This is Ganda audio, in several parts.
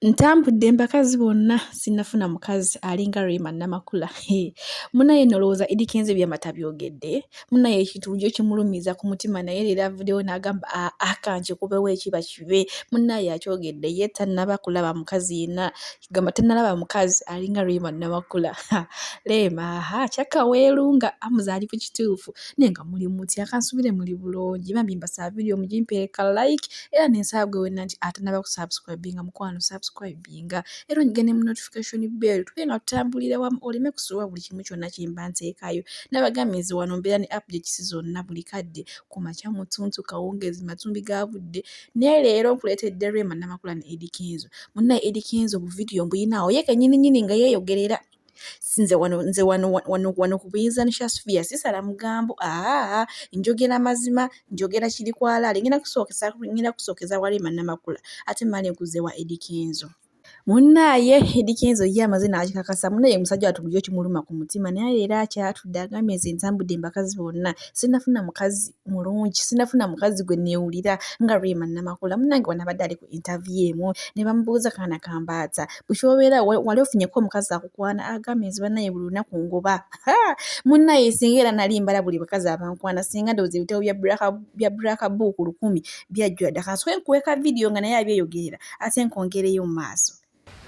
Ntambudde mbakazi bonna sinnafuna mukazi alinga Rema Namakula. Munaye no olowooza Eddy Kenzo ebyama tabyogedde? Munaye ekintu bulijjo kimulumiza ku mutima naye leero avuddewo n'agamba aa ah, ah, kankikubewo ekiba kibe. Munaye akyogedde ye tannaba kulaba mukazi yenna gamba tannalaba mukazi alinga Rema Namakula. Rema aha kyakka weerunga amuzaali ku kituufu naye nga muli mutya kansubire muli bulungi bambi mbasaba vidiyo mugimpeere ka like era nensaba gwe wenna nti atanaba ku subscribinga mukwano subscribinga era onyigane mu notification bell tuke nga tutambulira wamu oleme kusubwa buli kimu kyonna kyemba nteekayo nabagambye nze wano mbeera ne updates zonna buli kadde ku makya mutuntu kawungeezi matumbi ga budde naye leero nkuleetedde rema namakula ne edikenzo munnaye edikenzo obuvidiyo mbuyinaawo ye kenyini nyini nga yeeyogerera nze wano nze wano wano wano ku buyinza nishasubiya sisala mugambo aa njogera mazima njogera kiri kwalaale ngenda kusookesa ngenda kusookeza wali manamakula ate male nkuze wa edikenzo munnaaye edikenzo ye amaze n'akikakasa munaye musajja watu bulijo kimuluma ku mutima naye leero akyatudde agambye nze ntambudde embakazi bonna sinafuna mukazi mulungi sinafuna mukazi gwe neewulira nga rema namakula munange wanabadde ali ku intervie emu ne bamubuuza kaana kambaata bwekyobeera wali ofunyeko omukazi akukwana agamba enzi banaye buli lunaku ngoba munaye singa era nali mbala buli bakazi abankwana singa ndowooza ebitabo bya braka buuku lukumi byajjula dda kansoke nkuweka vidiyo nga naye abyeyogerera ate nkwongereyo mu maaso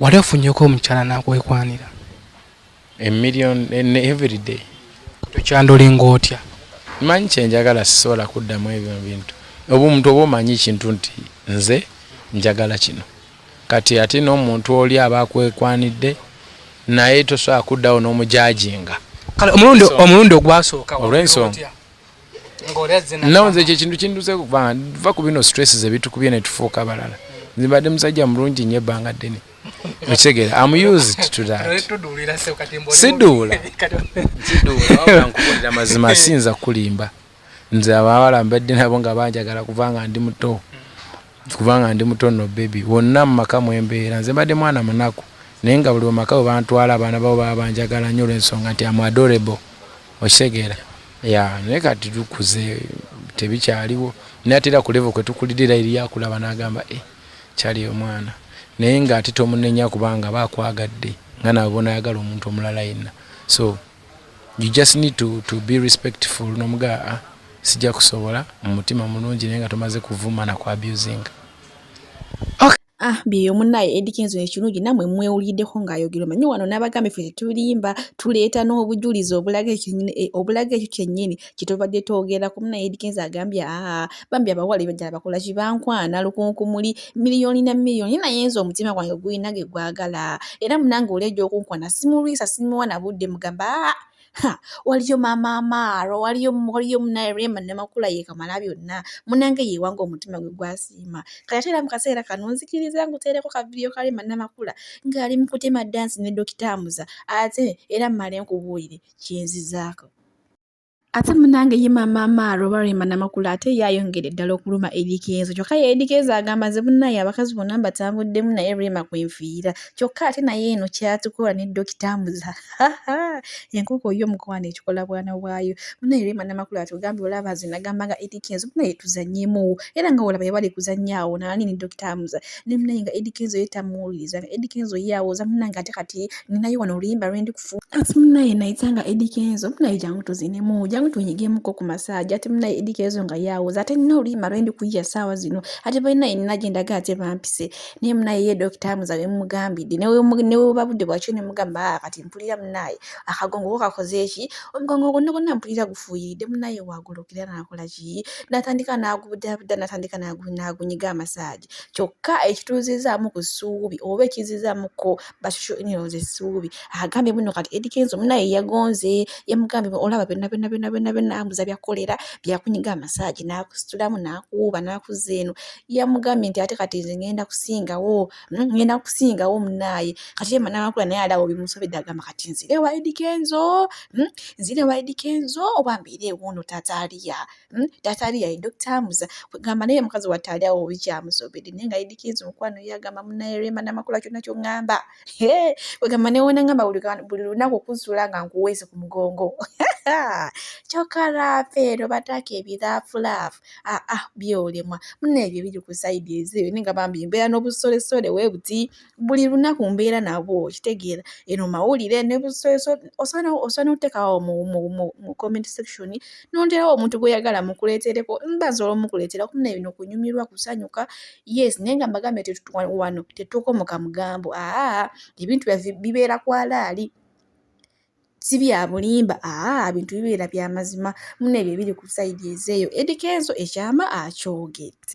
Wali ofunyeko omukyala nakwekwanira a million in every day tukyandolinga otya manyi kyenjagala sisobola kuddamu ebyo bintu oba omuntu oba omanyi ekintu nti nze njagala kino kati ate n'omuntu oli aba akwekwanidde naye tosobola kuddawo n'omujajinga kale omulundi omulundi ogwasooka olw'ensonga nawe nze ekyo ekintu kinduze kuba va ku bino stress zebitukubye netufuuka abalala nze mbadde musajja mulungi nyo ebbanga ddene okitegeera am used to that siduula siduula nkubuulira mazima siyinza kukulimba nze abawala mbadde nabo nga banjagala kuva nga ndi muto Kuva nga ndi muto nno baby. Wonna mu maka mwe mbeera nze mbadde mwana munaku naye nga buli wemaka we bantwala abaana babo baba banjagala nnyo olw'ensonga nti am adorable okitegeera yeah naye kati tukuze tebikyaliwo naye ate era ku level kwe tukulidde era eriyo akulaba n'agamba eh kyali omwana naye ng'ate tomunenya kubanga aba akwagadde nga nawe bw'onaayagala omuntu omulala yenna so you just need to, to be respectful nomugaa ah, sijja kusobola mu mutima mulungi naye nga tomaze kuvuma na ku abusing Ah, byeyo munaye Eddy Kenzo ekirungi namwe mwewuliddeko ng'ayogera omanyi wano n'abagambi ffe tetulimba tuleeta n'obujulizi obulaga ekyo kyennyini kitobadde togera ku muna edikenza agambye aa bambi abawala ebajala bakola kibankwana lukunkumuli miliyoni na miliyoni naye nze omutima gwange gulina ge gwagala era munange oli ejja okunkwana simulwisa simuwa na budde mugamba aa ha waliyo maama amaaro waliyo waliyo munaye rema namakula yekamala byonna munange yewanga omutima gwe gwasiima kati ate era mu kaseera kano nzikiriza nguteereko kavidiyo ka rema namakula ng'ali mu kutema dansi ne dokita amuza ate era mmale nkubuulire kyenzizaako ate munange ye maama amaara oba rema namakula ate ye ayongere ddala okuluma edikenzo kyokka ye edikenzo agamba nze bunaye abakazi bonna mbatambuddemu naye rema kwenfiira kyokka ate naye eno kyatukola ne dokita amuza enkoko yo omukowa nekikola bwana bwayo munaye rema namakula atugambye olaba nze nagambanga edikenzo bunaye tuzanyemuwo era nga olaba yabali kuzanyaawo nani ne dokita amuza ne munaye nga Eddy Kenzo ye tamuwuliriza nga Eddy Kenzo ye awooza munange ate kati ninayo wano oluyimba lwendi kufu ati munaye nayita nga Eddy Kenzo munaye jangu tuzinemu jangu tunyigemuko ku masaagi ate munaye Eddy Kenzo nga ye awooza ate nina oluyimba lwendi kuyiya saawa zino ate balinaye nina gyendaga ate bampise naye munaye ye dokita amuza bemugambidde neweba budde bwakyo nemugamba ah, kati mpulira munaye akagongo ko kakoze eki omugongo gwonna gwonna mpulira gufuuyiridde munaye wagulukira nakola ki natandika nagubudaabuda natandika nagunyiga amasaagi kyokka ekituuzizaamu ku ssuubi oba ekizizaamuko basho eniroz essuubi agambye muno kati edikenzo munaye yagonze yamugambye olaba byonna byonna byonna byonna byonna ambuza byakolera byakunyiga amasaagi n'akusitulamu n'akuwuuba n'akuzza eno yamugambye nti ate kati nze ngenda kusingawo hmm, ngenda kusingawo munaaye kati yema n'amakula naye alaba obimusobedde agamba kati nzire wa edikenzo hmm, nzire wa edikenzo oba mbeere ewuuno tataaliya Hmm? taata ali yayi dokita amuza kwegamba naye mukazi watte ali awo bikyamusobedde naye nga idikiizi mukwano ye agamba munaye rema namakula kyonna kyongamba kwegamba newona ngamba buli lunaku okuzula nga nkuweese ku mugongo kyoka rafeero bataaka ebirafulaafu aa ah, ah, byolemwa muna ebyo biri ku saidi ezeyo ninga bambi mbeera n'obusolesole webuti buli lunaku mbeera nabwo okitegeera eno mawulire osobola notekawo mu comment section nonderawo omuntu gweyagala mukuletereko mbaza olwomukuletera kumuna ebino kunyumirwa kusanyuka yes naye nga mbagambe wano tetukomoka mugambo aa ebintu byaffe bibeera kwalaali si bya bulimba aa bintu bibeera bya mazima muna ebyo ebiri ku sayidi ezeeyo edikenzo ekyama akyogedde